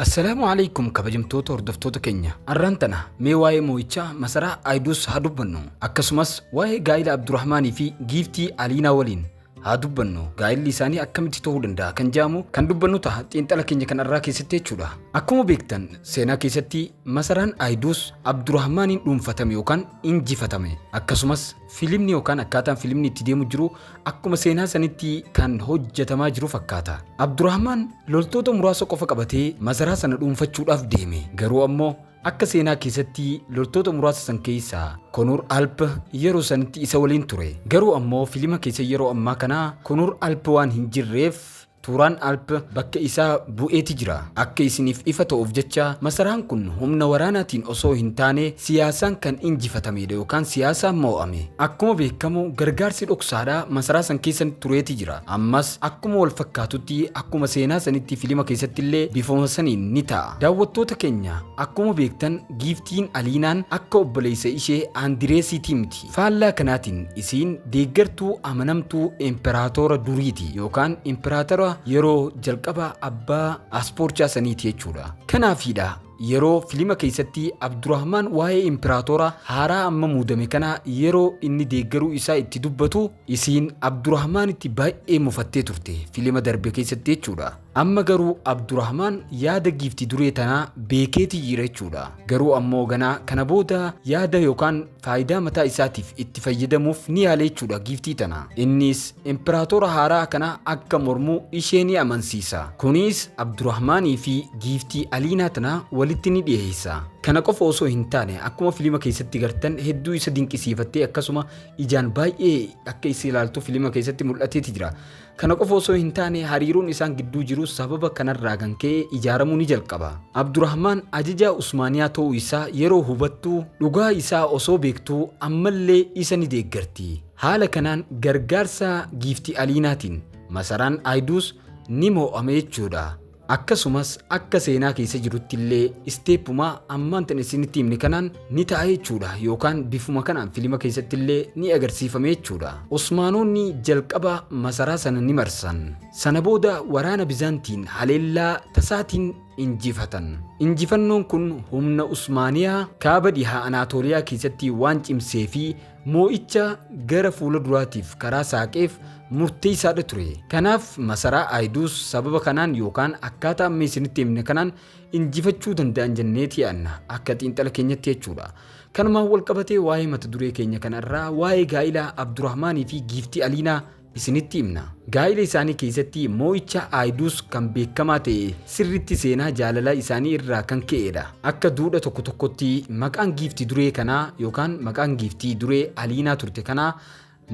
Assalaamu alaikum kabajamtoota hordoftoota keenya arraan tana mee waa'ee moo'ichaa masaraa Ayiduus haa dubbannu akkasumas waa'ee gaa'ila Abdurrahmaanii fi giiftii Aliinaa waliin haa dubbannu gaa'illi isaanii akkamitti ta'uu danda'a kan jedhamu kan dubbannu ta'a xiinxala keenya kan arraa keessatti jechuudha akkuma beektan seenaa keessatti masaraan Ayiduus Abdurrahmaaniin dhuunfatame yookaan injifatame akkasumas Filimni yookaan akkaataan filimni itti deemu jiru akkuma seenaa sanitti kan hojjetamaa jiru fakkaata. Abdurahmaan loltoota muraasa qofa qabatee masaraa sana dhuunfachuudhaaf deeme. Garuu ammoo akka seenaa keessatti loltoota muraasa san keessa Konuur Alp yeroo sanitti isa waliin ture. Garuu ammoo filima keessa yeroo ammaa kana Konuur Alp waan hin jirreef Turan Alp bakka isaa bu'eeti jira. Akka isiniif ifa ta'uuf jecha masaraan kun humna waraanaatiin osoo hin taane siyaasaan kan injifatameedha yookaan siyaasaan moo'ame. Akkuma beekamu gargaarsi dhoksaadha masaraa san keessa tureeti jira. Ammas akkuma wal fakkaatutti akkuma seenaa sanitti filima keessattillee bifuma saniin ni ta'a. Daawwattoota keenya akkuma beektan Giiftiin Aliinaan akka obboleessa ishee Andireesiitii miti. Faallaa kanaatiin isiin deeggartuu amanamtuu imperaatoora duriiti yookaan imperaatara yeroo jalqaba abbaa aspoorchaa saniiti jechuudha. Kanaafiidha yeroo filima keessatti Abdurahmaan waa'ee imperaatoora haaraa amma muudame kanaa yeroo inni deeggaruu isaa itti dubbatu isiin Abdurahmaanitti baay'ee mufattee turte filima darbe keessatti jechuudha. Amma garuu Abdurahmaan yaada giifti duree tanaa beekeetii jira jechuudha. Garuu ammoo ganaa kana booda yaada yookaan faayidaa mataa isaatiif itti fayyadamuuf ni yaale jechuudha giiftii tana. Innis impiraatoora haaraa kana akka mormu ishee ni amansiisa. Kunis Abdurahmaanii fi giiftii Aliinaa tana walitti ni dhiheessa. Kana qofa osoo hin taane akkuma filima keessatti gartan hedduu isa dinqisiifattee akkasuma ijaan baay'ee akka isa ilaaltu filima keessatti mul'ateeti jira. Kana qofa osoo hin taane hariiroon isaan gidduu jirus sababa kanarraa kan ka'e ijaaramuu ni jalqaba. Abdurahmaan ajajaa Usmaaniyaa ta'uu isaa yeroo hubattu dhugaa isaa osoo beektuu ammallee isa ni deeggarti. Haala kanaan gargaarsa Giiftii Aliinaatiin masaraan Aayduus ni moo'ame jechuudha. Akkasumas akka seenaa keessa jirutti illee isteeppuma ammaan tan isinitti himne kanaan ni ta'a jechuudha yookaan bifuma kanaan filima keessatti illee ni agarsiifame jechuudha. Osmaanoonni jalqaba masaraa sana ni marsan. Sana booda waraana Bizaantiin haleellaa tasaatiin injifatan. Injifannoon kun humna Usmaaniyaa kaaba dhihaa Anaatooliyaa keessatti waan cimsee fi moo'icha gara fuula duraatiif karaa saaqeef murteessaadha ture. Kanaaf masaraa Ayiduus sababa kanaan yookaan akkaataa amma isinitti himne kanaan injifachuu danda'an jenneeti yaadna akka xiinxala keenyatti jechuudha. Kanumaan walqabatee waa'ee mata duree keenya kanarraa waa'ee gaa'ilaa Abdurahmaanii fi giiftii Aliinaa isinitti himna. Gaa'ila isaanii keessatti moo'icha Aayidus kan beekamaa ta'e sirriitti seenaa jaalalaa isaanii irraa kan ka'e dha. Akka duudha tokko tokkotti maqaan giifti duree kanaa yookaan maqaan giiftii duree Aliinaa turte kanaa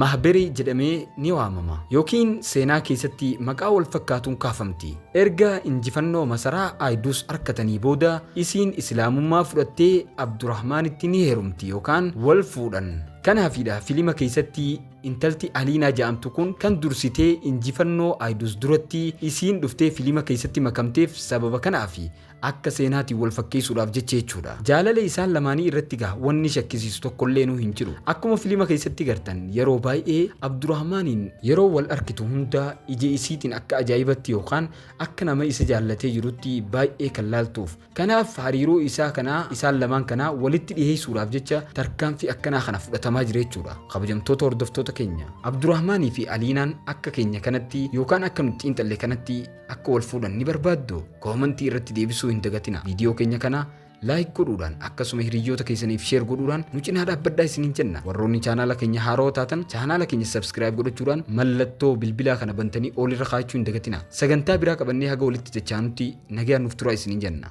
Mahberi jedhamee ni waamama. Yookiin seenaa keessatti maqaa wal fakkaatuun kaafamti. Erga injifannoo masaraa Aayidus arkatanii booda isiin Islaamummaa fudhattee Abdurahmaanitti ni heerumti yookaan wal fuudhan. Kanaafii dha filima keessatti Intalti Aliinaa ja'amtu kun kan dursitee injifannoo Ayidoos duratti isiin dhuftee filima keessatti makamteef sababa kanaafi. Akka seenaatiin wal fakkeessuudhaaf jecha jechuudha. Jaalala isaan lamaanii irratti gaa wanni shakkisiisu tokkolleenuu hin jiru. Akkuma filima keessatti gartan yeroo baay'ee Abdurahmaaniin yeroo wal arkitu hunda ija isiitiin akka ajaa'ibatti yookaan akka nama isa jaallatee jirutti baay'ee kan laaltuuf. Kanaaf hariiroo isaa kana isaan lamaan kana walitti dhiheessuudhaaf jecha tarkaanfii akkanaa kana fudhatamaa jira jechuudha. Kabajamtoota hordoftoota keenya Abdurahmaanii fi Aliinaan akka keenya kanatti yookaan akka nuti xiinxalle kanatti akka wal fuudhan ni barbaaddu? Koomantii irratti deebisuu hin dagatina. Viidiyoo keenya kana laayik godhuudhaan akkasuma hiriyyoota keessaniif sheer godhuudhaan nu cinaa dhaabbadhaa isiniin jenna. Warroonni chaanaala keenya haarawa taatan chaanaala keenya sabskiraayib godhachuudhaan mallattoo bilbilaa kana bantanii oolirra kaa'achuu hin dagatina. Sagantaa biraa qabannee haga walitti dachaanutti nagaan nuuf turaa isiniin jenna.